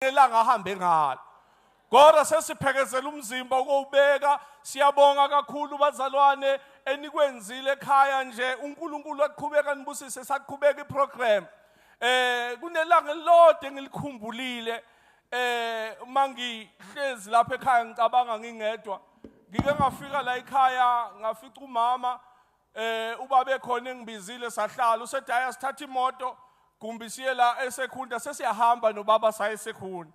elanga ahambe ngalo kodwa sesiphekezela umzimba ukowubeka siyabonga kakhulu bazalwane enikwenzile ekhaya nje uNkulunkulu aqhubeka nibusise saqhubeka iprogram eh kunelanga elilodwa engilikhumbulile eh mangihlezi lapha ekhaya ngicabanga ngingedwa ngike ngafika la ekhaya ngafica umama Eh uba bekhona engibizile sahlala usethi haya sithatha imoto kumbi siye la esekhunda sesiyahamba nobaba saye sekhunda.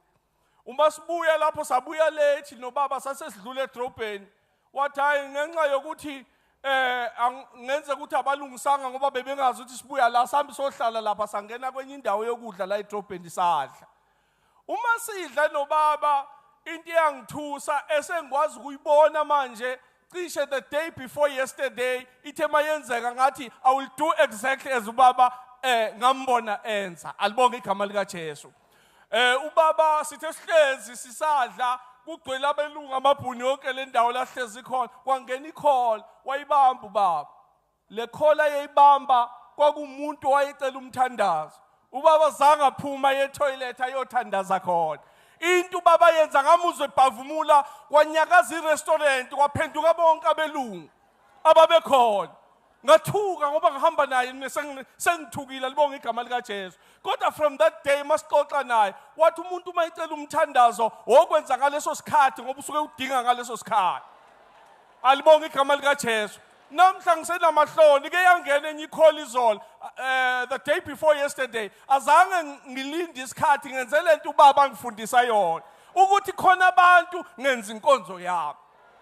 Uma sibuya lapho sabuya late nobaba sasesidlule edrobheni wathi hayi ngenxa yokuthi eh ngenze ukuthi abalungisanga ngoba bebengazi ukuthi sibuya la sambi sohlala lapha sangena kwenye indawo yokudla la edrobheni sadla Uma sidla nobaba into eyangithusa esengikwazi ukuyibona manje cishe the day before yesterday ithe mayenzeka ngathi i will do exactly as ubaba eh ngambona enza alibonge igama lika Jesu eh ubaba sithe sihlezi sisadla kugcwele abelungu amabhuni yonke lendawo lahlezi khona kwangena icall wayibamba ubaba Le call ayeyibamba kwakumuntu owayecela umthandazo. Ubaba zange aphuma ye toilet ayothandaza khona. Into ubaba yenza ngamuzwe ebhavumula kwanyakaza irestaurant kwaphenduka bonke abelungu ababekhona. ngathuka ngoba ngihamba naye mina sengithukile libonga igama likaJesu kodwa from that day masixoxa naye wathi umuntu uma icela umthandazo wokwenza ngaleso sikhathi ngoba usuke udinga ngaleso sikhathi alibonga igama likaJesu Namhla ngisenamahloni ke yangena enye ikholi izolo eh the day before yesterday azange ngilinde isikhathi ngenze lento ubaba ngifundisa yona ukuthi khona abantu ngenza inkonzo yami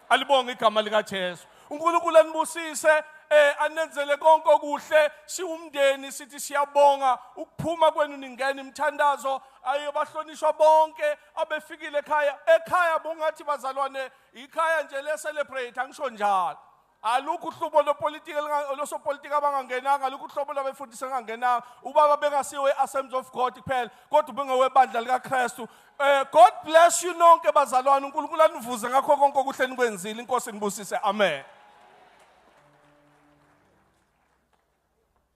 alibonge igama lika Jesu uNkulunkulu anibusise eh anenzele konke okuhle siwumndeni sithi siyabonga ukuphuma kwenu ningena imthandazo ayobahlonishwa bonke abefikile ekhaya ekhaya bungathi bazalwane ikhaya nje le-celebrate angisho njalo alukho uhlubo lopolitiki losopolitiki abangangenanga alukho uhlobo lwabefundisi engangenanga ubaba bengasiwe e-assemblies of god kuphela kodwa ubengowebandla likakristu um god bless you nonke bazalwane unkulunkulu anivuze ngakho konke okuhle nikwenzile inkosi nibusise amen